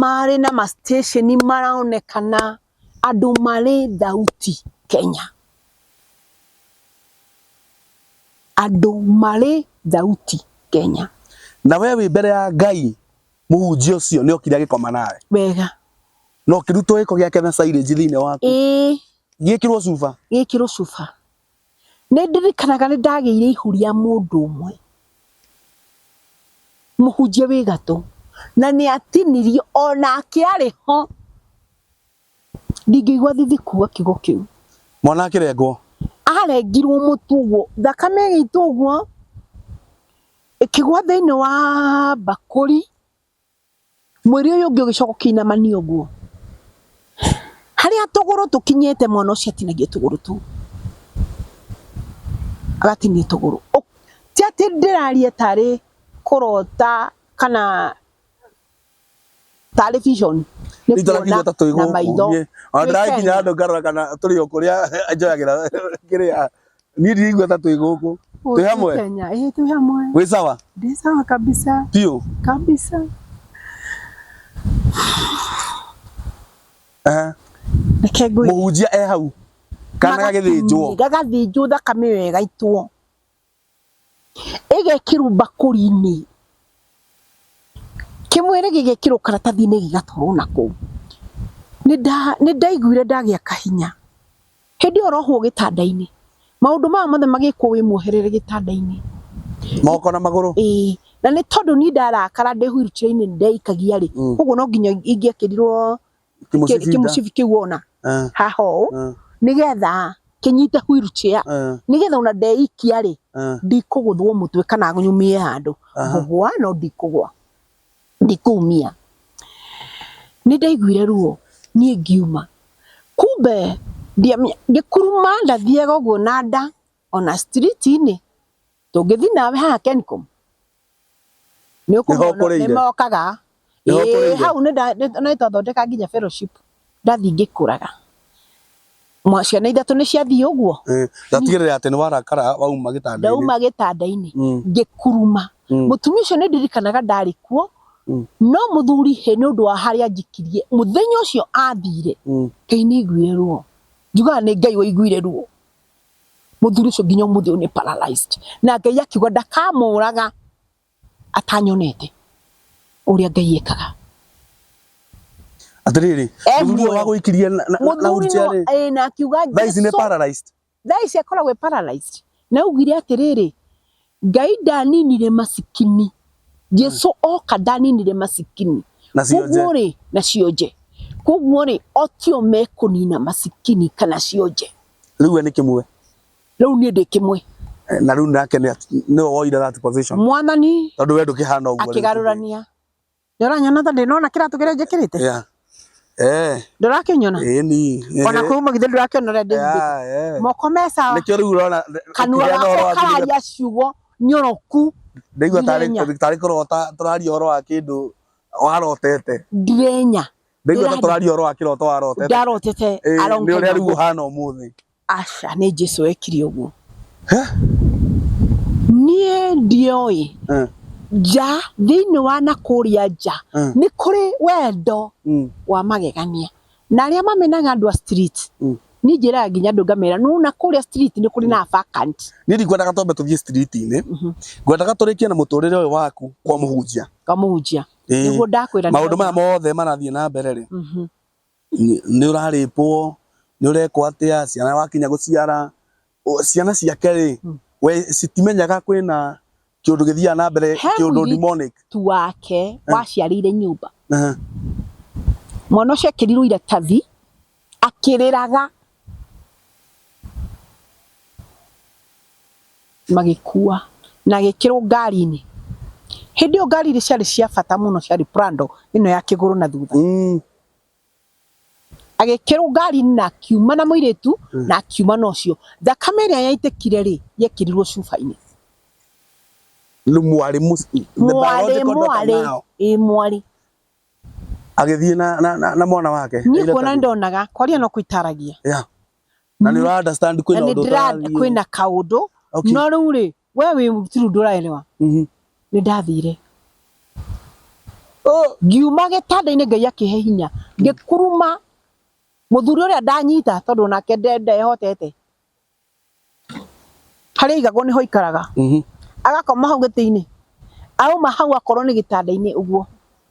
marĩ na ma station maronekana andũ marĩ thauti Kenya. Andũ marĩ thauti Kenya. Na we wĩ mbere ya Ngai mũhunjia ũcio nĩ okire agĩkoma nawe. Wega. Na ũkĩrutwo gĩko gĩake na silage thĩinĩ waku. Ĩĩ. Gĩkĩrwo cuba. Gĩkĩrwo cuba. Nĩ ndirikanaga nĩ ndagĩire ihu rĩa mũndũ ũmwe, mũhunjia wĩ gatũ, na nĩ atinirio onake arĩ ho. Ndingĩigua thithi kuga kiugo kĩu. Mwana akĩrengwo. Arengirwo mũtu ũguo, thakame ĩgĩitwo ũguo, ĩkĩgwa thĩinĩ wa mbakũri. Mwĩrĩ ũyũ ũngĩ ũgĩcoka ũkĩinamania ũguo. Harĩa tũgũrũ tũkinyĩte mwana ũcio atinagio tũgũrũ tũu. Agatinio tũgũrũ. Ti atĩ ndĩraria tarĩ kũrota kana tarĩ vision. Nĩ kuona na maitho. Ona ndĩrakinya handũ ngarora kana tũrĩ o kũrĩa njoyagĩra kĩrĩa. Niĩ ndirigua ta twĩ gũkũ. Twĩ hamwe? Kenya. Eh, twĩ hamwe. Wĩ sawa? Ndĩ sawa kabisa. Piũ? Kabisa. Eh. Reke ngwĩre. Mũhunjia e hau. Kana gagĩthĩnjwo. Gagathĩnjwo thakame ĩyo ĩgaitwo. ĩgekĩrwo mbakũri-inĩ, kĩmwĩrĩ gĩgekĩrwo karatathi-inĩ gĩgatwarwo na kũu. Nĩ ndaiguire ndagĩa kahinya, hĩndĩ ĩyo ũrohwo gĩtanda-inĩ, maũndũ maya mothe magĩkwo wĩ mwoherere gĩtanda-inĩ. Moko na magũrũ? Ĩĩ, na nĩ tondũ niĩ ndarakara ndĩ wheelchair -inĩ nĩ ndeikagia rĩ, ũguo no nginya ingĩekĩrirwo Kĩmũcibi nda. kĩmũcibi kĩu wona Eh, haha ũũ eh, nĩgetha kĩnyite wheelchair eh, nĩgetha ona ndeikia rĩ eh. ndikũgũthwo mũtwe kana nyumie handũ Aha. ngũgwa no ndikũgwa ndikũmia nĩ ndaiguire ruo niĩ ngiuma kumbe ndiamenya- ngĩkuruma ndathiaga ũguo na nda ona street inĩ tũngĩthi nawe haha Kencom nĩ Nĩho ũkũmona ũkũrĩire? nĩ mokaga Nĩho Ĩĩ, ũkũrĩire? hau nĩ nda- nĩ- ona nĩ twathondeka nginya fellowship ndathi ngĩkũraga Mwa- ciana ithatũ nĩ ciathiĩ ũguo Eh, ndatigĩrĩra atĩ nĩ warakara wauma gĩtanda-inĩ ndauma gĩtanda-inĩ Mm, ngĩkuruma mm. mũtumia ũcio nĩ ndirikanaga ndarĩ kuo Mm. no mũthuri hĩ nĩ ũndũ wa harĩa njikirie mũthenya ũcio athire Mm. ngai nĩ aiguire ruo njugaga nĩ ngai waiguire ruo mũthuri ũcio nginya ũmũthĩ ũyũ nĩ paralyzed na Ngai akiuga ndakamũraga atanyonete ũrĩa Ngai ekaga atiriri Eh, muthuri muoyo. wa guikiria na na- na mũthuri no wheelchair ĩ na akiuga thaa ici nĩ Jesu paralyzed thaa ici akoragwo e paralyzed na augire atĩrĩrĩ Ngai ndaninire masikini. Jesu oka ndaninire masikini. Na cionje. Koguo rĩ, na cionje. Koguo rĩ, o tio mekũnina masikini kana cionje. Rĩu we nĩ kĩmwe. Rĩu niĩ ndĩ kĩmwe. Eh, na rĩu nake nĩwe woire that position. Mwathani. Tondũ we ndũkĩhana ũguo. Akĩgarũrania. Ndũranyona ta ndĩnona kĩratũ kĩrĩa njĩkĩrĩte? Yeah. Eh. Ndũrakĩnyona? Eh ni. Ona kwa uma githĩ ndũrakĩona ũrĩa ndĩmbĩte. Yeah, eh. Moko me sawa. Nĩkĩo rĩu ũrona kanua gakwa kararia ciugo nyoroku. Ndaigua tarĩ tarĩ kũrota tũraria ũhoro wa kĩndũ warotete. Ndirenya. Ndaigua ta tũraria ũhoro wa kĩroto warotete. Ndarotete. Eh, nĩ ũrĩa rĩu ũhana ũmũthĩ. Aca nĩ Jesu wekire ũguo. Niĩ ndioĩ Eh, nja thĩinĩ wa na kũrĩa nja Mm. nĩ kũrĩ wendo mm, wa magegania na arĩa mamenaga andũ a street Mm. niĩ njĩraga nginya andũ ngamera no na kũrĩa street nĩ kũrĩ na vacant niĩ ndikwendaga twambe tũthiĩ street-inĩ Mhm. ngwendaga tũrĩkie na mũtũrĩre ũyũ waku kwa mũhunjia kamũhunjia Ĩĩ. nĩguo ndakwĩra maũndũ maya mothe marathiĩ na mbere rĩ Mhm. nĩ ũrarĩpwo, nĩ ũrekwo atĩa, ciana wakinya gũciara, ciana ciake rĩ, we citimenyaga kwĩna kĩũndũ gĩthiaga na mbere He kĩũndũ mũirĩtu demonic. wake waciarĩire nyũmba Aha. mwana ũcio ekĩrirwo iratathi akĩrĩraga magĩkua na agĩkĩrwo ngari-inĩ hĩndĩ ĩyo ngari iria ciarĩ cia bata mũno ciarĩ prado ĩno ya kĩgũrũ na thutha Mm. agĩkĩrũnga ari na akiuma na mũirĩtu hmm. na akiuma na ũcio thakame ĩrĩa yaitĩkire rĩ yekĩrirwo cuba-inĩ mwarĩ mwarĩ mwarĩ agĩthiĩ na, na, na, na mwana wake niĩ kuona ndonaga kwaria no kwĩtaragia yeah. na nĩ ũra understand kwĩna ũndũ kwĩna kaũndũ okay. no rĩu rĩ we wĩ tiru ndũraelewa Mhm. nĩ ndathire Oh, ngiuma gĩtanda-inĩ ngai akĩhe hinya ngĩkuruma mũthuri ũrĩa ndanyita tondũ onake nde- ndehotete harĩa aigagwo nĩho aikaraga mhm. agakoma hau gĩtĩ-inĩ auma hau akorwo nĩ gĩtanda-inĩ ũguo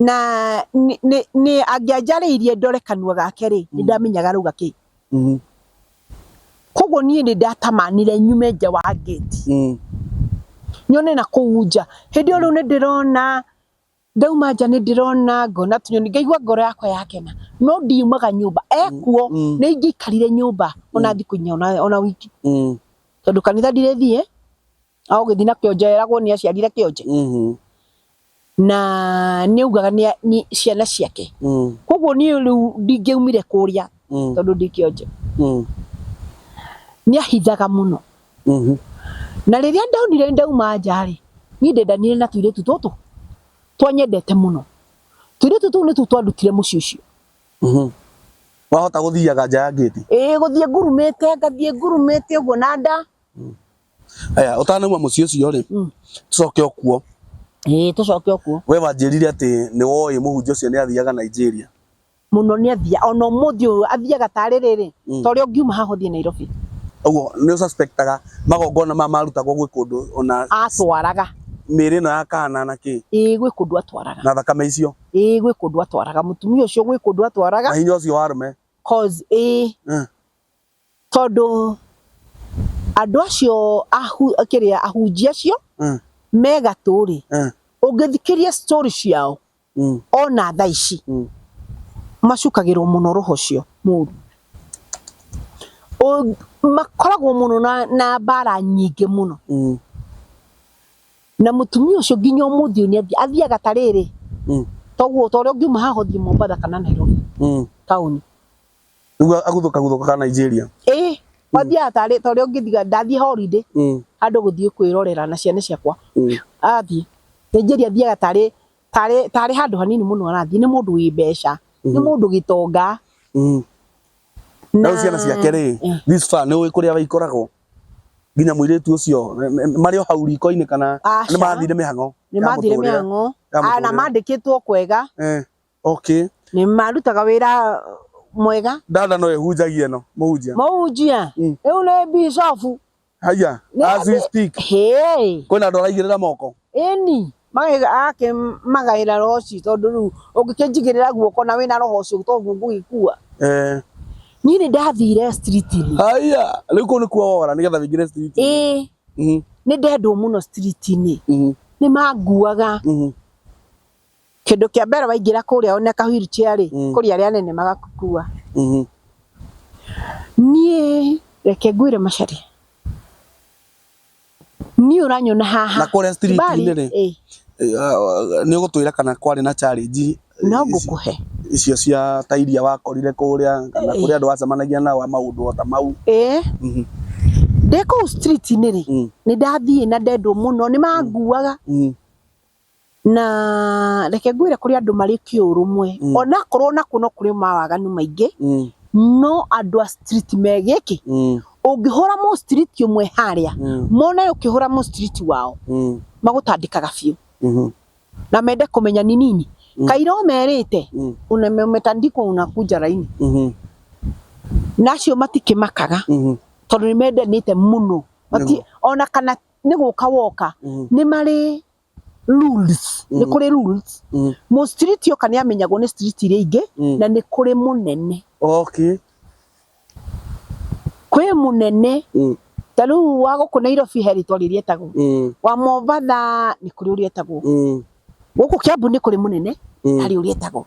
na nĩ- nĩ- nĩ angĩanjarĩirie ndore kanua gake-rĩ nĩ Mm. ndamenyaga arauga kĩ Mhm. koguo niĩ nĩ ndatamanire nyume nja wa ngĩti Mm. nyone na kũu nja hĩndĩ ĩyo rĩu nĩ ndĩrona ndauma nja nĩ ndĩrona ngona tũnyoni ngaigua ngoro yakwa yakena no ndiumaga nyũmba ekuo Mm. nĩ ingĩikarire nyũmba ona thikũ inya ona ona wiki Mm. tondũ kanitha ndirĩthiĩ a ũgĩthiĩ na kĩonje eragwo nĩ aciarire kĩonje Mhm. na nĩ augaga nĩ a- nĩ ciana ciake Mm. koguo niĩ rĩu ndingĩaumire kũrĩa Mm. tondũ ndĩ kĩonje Mm. nĩ ahithaga mũno Mhm. na rĩrĩa ndonire ndauma nja rĩ niĩ ndendanire na tũirĩtu tũtũ twanyendete mũno tũirĩtu tũu nĩtu twandutire mũciĩ ũcio Mhm. wahota gũthiaga nja ya ngĩti ĩĩ gũthiĩ ngurumĩte ngathiĩ ngurumĩte ũguo na nda Aya, ũtanauma mũciĩ ũcio-rĩ, Mm. tũcoke o kuo. ĩĩ tũcoke o kuo We wanjĩrire atĩ nĩ woĩ mũhunjia ũcio nĩ athiaga Nigeria. mũno nĩ athia ona ũmũthĩ ũyũ athiaga tarĩ rĩrĩ Mm. ta ũrĩa ũngiuma haha ũthiĩ Nairobi Ũguo nĩ ũsuspectaga magongona maya marutagwo gwĩ kũndũ ona atwaraga mĩĩrĩ ĩno ya kana na kĩ ĩĩ gwĩ kũndũ atwaraga na thakame icio ĩĩ gwĩ kũndũ atwaraga mũtumia ũcio gwĩ kũndũ atwaraga na hinya ũcio wa arũme. cause ĩĩ Mm. Tondũ andũ acio kĩrĩa ahunjia acio me gatũ rĩ, ũngĩthikĩrĩria story ciao ona thaa ici macukagĩrwo mũno roho ũcio mũru. Makoragwo mũno na mbara nyingĩ mũno. Na mũtumia ũcio nginya ũmũthĩ ũyũ nĩathiaga, athiaga ta rĩrĩ, ta ũguo ta ũrĩa ũngiuma haha ũthiĩ Mombatha kana Nairobi taũni, Rĩu aguthũka guthũka ka Nigeria. Ĩĩ, wathiaga tarĩ ta ũrĩa ũngĩthiga ndathiĩ holiday Mm. handũ gũthiĩ kwĩrorera na ciana ciakwa. Mm. Athiĩ. Nigeria athiaga tarĩ tarĩ tarĩ handũ hanini mũno arathiĩ. Nĩ mũndũ wĩ mbeca. Nĩ mũndũ gĩtonga. Mm. Na rĩu ciana ciake rĩ, Eh. this far nĩ ũĩ kũrĩa waikoragwo. Nginya mũirĩtu ũcio nĩ- nĩ- marĩ o hau riko-inĩ kana Aca. nĩ mathire mĩhang'o. Nĩ ya mathire mũtũrĩre. mĩhang'o. Ya Ah, Na mũtũrĩre. mandĩkĩtwo kwega. Eh. Okay. Nĩ marutaga wĩra mwega. Dada no ehunjagia ĩno, mũhunjia. Mũhunjia? Mm. Rĩu nĩ bishofu. Haya, as we speak. Hĩĩ. Kwĩna andũ araigĩrĩra moko? Ĩni. Akĩmagaĩra roho ũcio tondũ rĩu ũngĩkĩnjigĩrĩra guoko na wĩna roho ũcio to guo ngũgĩkua. Eh. Niĩ nĩ ndathire street-inĩ. Haya, rĩu kũu nĩkuo wora nĩgetha wĩingĩre street-inĩ. Ĩĩ. Mhm. Nĩ ndendwo mũno street-inĩ. Mhm. Nĩ manguaga. Mhm. Kĩndũ kĩa mbere waingĩra kũrĩa one ka wheelchair rĩ, Mm. kũrĩ arĩa anene magakua. Mhm. Niĩ reke ngwĩre macarĩ. Niĩ ũranyona haha. Na kũrĩa street-inĩ Bali, rĩ? ĩ, nä å gå twä ra kana kwarä na challenge no ngũkũhe. icio cia ta iria wakorire kå rä a kana kå rä andå wacemanagia nao a maå ndå ota mau Ĩ, Mhm, ndĩ kũu street-inĩ rĩ, mm, nĩ ndathiĩ na ndendwo mũno, nĩ manguaga. mm, Na reke ngwĩre kũrĩ andũ marĩ kĩũrũmwe. Mm. Onakorwo nakuo no kũrĩ mawaganu maingĩ, Mm. no andũ a street megĩkĩ. Mm. Ũngĩhũra mũ street ũmwe harĩa, Mm. mone ũkĩhũra mũ street wao, Mm. magũtandĩkaga biũ. Mhm. Na mende kũmenya ni nini. Mm. Kaira ũmerĩte, Mm. "Una- umetandikwa unakuja laini. Mhm. Na acio matikĩmakaga Mhm. tondũ nĩ mendanĩte mũno. Mati, Nĩguo. ona kana nĩ gũka woka Mm. nĩ marĩ rules nĩ Mm. kũrĩ rules Mm. mũ street yoka nĩ amenyagwo nĩ street iria ingĩ Mm. na nĩ kũrĩ mũnene Okay. kwĩ mũnene Mm. ta rĩu wa gũkũ Nairobi he rĩtwa rĩrĩa etagwo Mm. wa Mombatha nĩ kũrĩ ũrĩa etagwo Mm. gũkũ Kiambu nĩ kũrĩ mũnene Mm. harĩ ũrĩa etagwo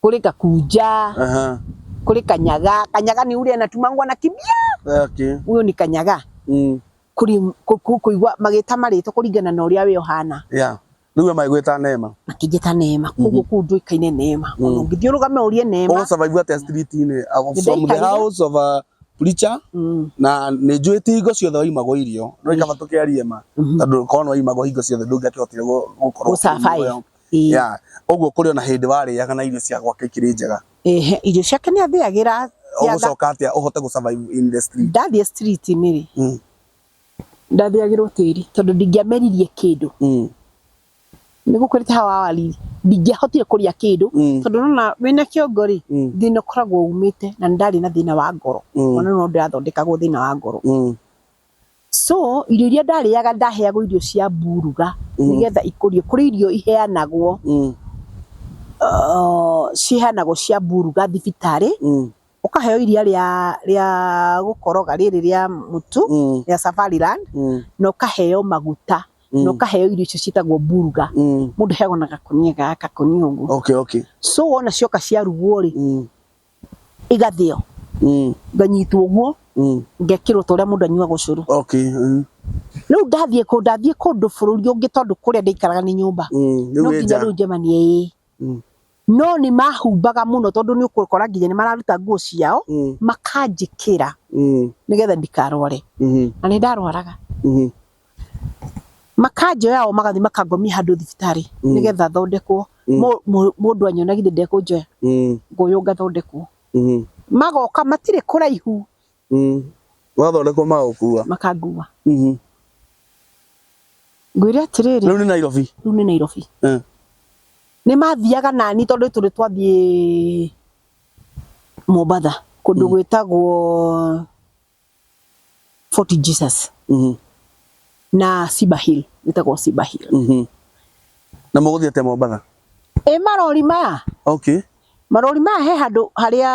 kuri kakuja Aha. kuri kanyaga kanyaga ni ule anatumangwa na kibia Okay. huyo ni kanyaga Mm. kuri ku- ku- kuigwa magita marito kuringana na uria we uhana Yeah. Nĩguo maigwĩta neema. makijita neema koguo kuu nduikaine neema Mm. ona ũngĩthiũrũga me ũrie neema Ũgũ survive atĩa street-inĩ? Ako- Nĩ From the ndaikaire. house of a preacher Mm. na nĩ njũĩ ti hingo ciothe waimagwo irio no ikaba tũkĩarie ma Mhm. tondũ korwo nĩ waimagwo hingo ciothe ndũngĩakĩhotire gũ- gũkorwo Gũ survive. ũkĩnyua. Ĩĩ. ya ũguo kũrĩ ona hĩndĩ warĩaga na irio cia gwake ikĩrĩ njega Ehe, irio ciake nĩ athĩagĩra cia tha- ũgũcoka atĩa ũhote gũ survive in the street ndathiĩ street-inĩ rĩ Mm. ndathĩagĩrwo tĩri tondũ ndingĩameririe kĩndũ Mm. nĩ gũkũrĩte hawa wariri ndingĩahotire kũrĩa kĩndũ Mm. tondũ nona wĩna kĩongo rĩ Mm. thĩna ũkoragwo umĩte na nĩ ndarĩ na thĩna wa ngoro Mm. ona no ndĩrathondekagwo thĩna wa ngoro Mm. So irio iria ndarĩaga ndaheagwo irio cia mburuga Mm. nĩgetha ikũrio kũrĩ irio iheanagwo Mm. uh, ciheanagwo cia mburuga thibitarĩ Mm. ũkaheo iria rĩa rĩa gũkoroga rĩrĩ rĩa mũtu Mm. rĩa Safariland Mm. na ũkaheo maguta Mm. na ũkaheo irio icio ciĩtagwo mburuga Mm. mũndũ heagwo na gakũnia gaka gakũnia ũguo Okay, okay. so wona cioka ciarugwo rĩ Mm. igathĩo Mm. nganyitwo ũguo Mm. ngekĩrwo ta ũrĩa mũndũ anyuaga ũcũrũ Okay. Mm. rĩu ndathiĩ kũ ndathiĩ kũndũ bũrũri ũngĩ tondũ kũrĩa ndĩikaraga nĩ nyũmba Mm. Rĩu no wĩ nginya nja. rĩu njemanie ĩĩ Mm. no nĩ mahumbaga mũno tondũ nĩ ũkũkora nginya nĩ mararuta nguo ciao Mm. makanjĩkĩra Mm. nĩgetha ndikarware Mhm. na nĩ ndarwaraga Mhm. Makanjoya o magathiĩ makangomia handũ thibitarĩ nĩgetha thondekwo, mũndũ anyona githĩ ndekũnjoya? Ngoywo ngathondekwo. Magoka matirĩ kũraihu. Wathondekwo magagũkua? Makangua. Ngwĩre atĩrĩrĩ. Rĩu nĩ Nairobi? Rĩu nĩ Nairobi. Nĩ mathiaga na niĩ tondũ nĩ tũrĩ twathiĩ Mombatha kũndũ gwĩtagwo... foti jesus Mhm. na sibahil wĩtagwo sibahil Mhm. na mũgũthiĩ atĩa mombatha ĩ marori maya okay marori maya he handũ harĩa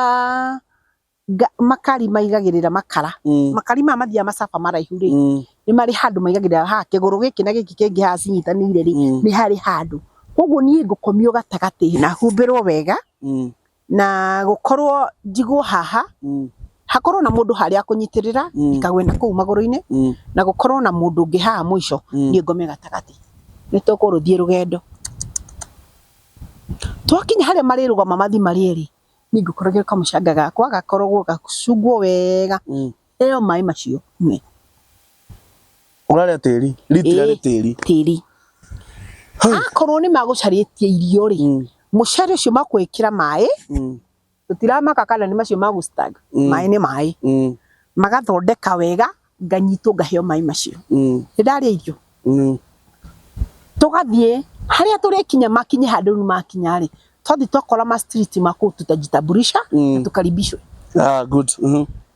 nga- makari maigagĩrĩra makara Mm. makari maya mathiaga macaba maraihu rĩ Mm. nĩ marĩ handũ maigagĩrĩra ha kĩgũrũ gĩkĩ na gĩkĩ kĩngĩ haha cinyitanĩire rĩ Mm. nĩ harĩ handũ koguo niĩ ngũkomio gatagatĩ na humbĩrwo wega Mm. na gũkorwo njigwo haha Mm. hakorwo na mũndũ harĩa akũnyitĩrĩra Mm. ikagwe na kũu magũrũ-inĩ Mm. na gũkorwo na mũndũ ũngĩ haha mũico Mm. niĩ ngome gatagatĩ nĩ tũkũrũthiĩ rũgendo twakinya harĩa marĩrũgama mathi marĩerĩ niĩ ngũkorogio kamũcanga gakwa gakorogwo gacungwo wega Mm. ĩyo maĩ macio nyue Ũrarĩa tĩri. Ritira Ĩĩ, nĩ tĩri. tĩri Hau. akorwo nĩ magũcarĩtie irio rĩ Mm, mũcere ũcio makũĩkĩra maĩ mm, tũtiramaka kana nĩ macio magũstag Mm. maĩ nĩ maĩ mm, magathondeka wega nganyitwo ngaheo maĩ macio mm, nĩ ndarĩa irio mm. tũgathiĩ harĩa tũrĩkinya makinye handũ rĩu makinya rĩ twathiĩ twakora ma street makũtuta jitambulisha Mm. na tũkaribishwe Ah, good. Mhm.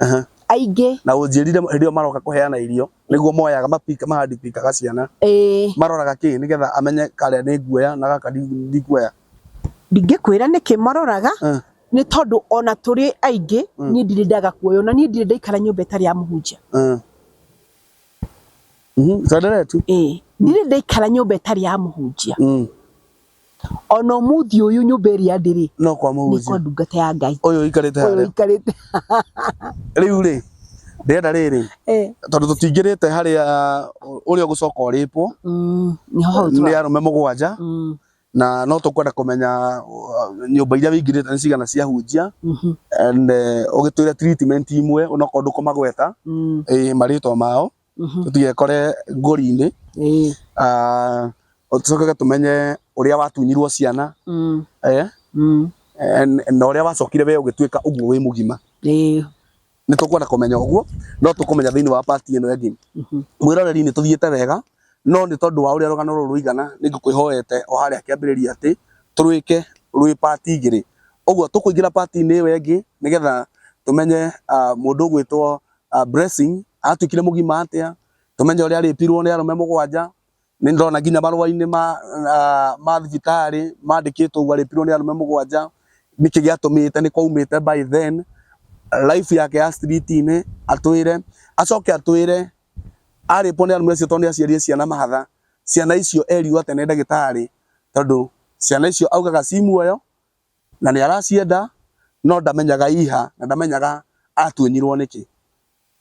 Aha. aingĩ na ũnjĩrire hĩndĩ ĩyo maroka kũheana irio nĩguo moyaga mapika mahandipikaga ciana ĩĩ maroraga kĩ nĩgetha amenye karĩa nĩ nguoya na gaka ndi- ndikuoya ndingĩkwĩra nĩkĩ maroraga Eh. nĩ tondũ ona tũrĩ aingĩ Mm. niĩ ndirĩ ndaga kuoyo na niĩ ndirĩ ndaikara nyũmba ĩtarĩ ya mũhunjia Eh. Mhm, tuendelee tu ĩĩ ndirĩ ndaikara nyũmba ĩtarĩ ya mũhunjia Mm. Ona ũmũthĩ ũyũ nyũmba ĩrĩa ndĩrĩ no kwa mũhunjia nĩkwa ndungata ya Ngai ũyũ ũikarĩte ũyũ harĩa ũikarĩte rĩu rĩ ndĩrenda rĩrĩ Eh, tondũ tũtingĩrĩte harĩa ũrĩa ũgũcoka ũrĩpwo mm, nĩho hau nĩ tũra- arũme mũgwanja Mm, na no tũkwenda kũmenya uh, nyũmba iria wĩingĩrĩte nĩ cigana cia hunjia mhm, and eh, ũgĩtwĩre treatment imwe onokorwo ndũkũmagweta mm, eh, marĩtwa mao Mhm. tũtigekore ngori-inĩ Ĩĩ. Ah, tũcoke tũmenye ũrĩa watunyirwo ciana Mm. eh, Mm. eh, na ũrĩa wacokire we ũgĩtuĩka ũguo wĩ mũgima Ĩĩ. nĩ tũkwenda kũmenya ũguo no tũkũmenya thĩinĩ wa pati ĩno ĩngĩ Mhm. mwĩroreri nĩ tũthiĩte wega no nĩ tondũ wa ũrĩa rũgano rũrũ rũigana nĩ ngũkwĩhoete o harĩa kĩambĩrĩria atĩ tũrwĩke rwĩ pati igĩrĩ ũguo tũkũingĩra pati-inĩ ĩyo ĩngĩ nĩgetha tũmenye ah, mũndũ ũgwĩtwo ah, blessing atukire mugima atia tumenye uria aripirwo ni arume mugwanja ni ndona nginya marwa-ini ma ah, ma thibitari mandikitwo uguo aripirwo ni arume mugwanja niki giatumite ni kwaumite by then life yake ya street-ini atwire acoke atwire aripwo ni arume acio tondu ni aciarie ciana mahatha ciana icio erirwo ate ni ndagitari tondu ciana icio augaga ci muoyo Na nĩ aracienda no ndamenyaga iha na ndamenyaga atunyirwo nĩkĩ.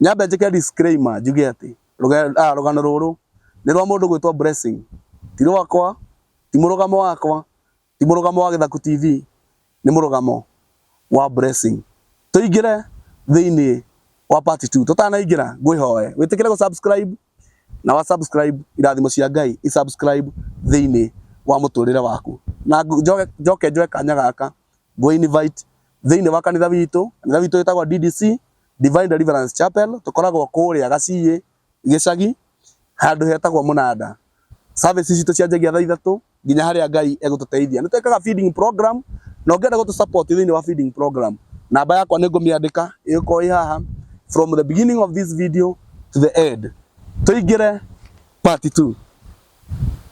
Nyambe njĩke disclaimer njuge atĩ rũgano rũrũ nĩ rwa mũndũ ũgwĩtwo Blessing, ti rwakwa, ti mũrũgamo wakwa, ti mũrũgamo wa Gĩthaku TV, nĩ mũrũgamo wa Blessing. Tũingĩre thĩinĩ wa part two. Tũtanaingĩra ngwĩhoe wĩtĩkĩre gũ subscribe. na wa subscribe irathimo cia ngai i subscribe thĩinĩ wa mũtũrĩre waku na njoke njoke njoe kanya gaka ngũ invite thĩinĩ wa kanitha witũ kanitha witũ wĩtagwo DDC Divine Deliverance Chapel tũkoragwo kũrĩa gaciĩ gĩcagi handũ hetagwo mũnanda services citũ cianjagia thaa ithatũ nginya harĩa Ngai egũtũteithia. Nĩ twĩkaga feeding program na ũngĩenda gũtũ support thĩinĩ wa feeding program, namba yakwa nĩ ngũmĩandĩka ĩgũkorwo ĩ haha from the beginning of this video to the end. Tũingĩre part two.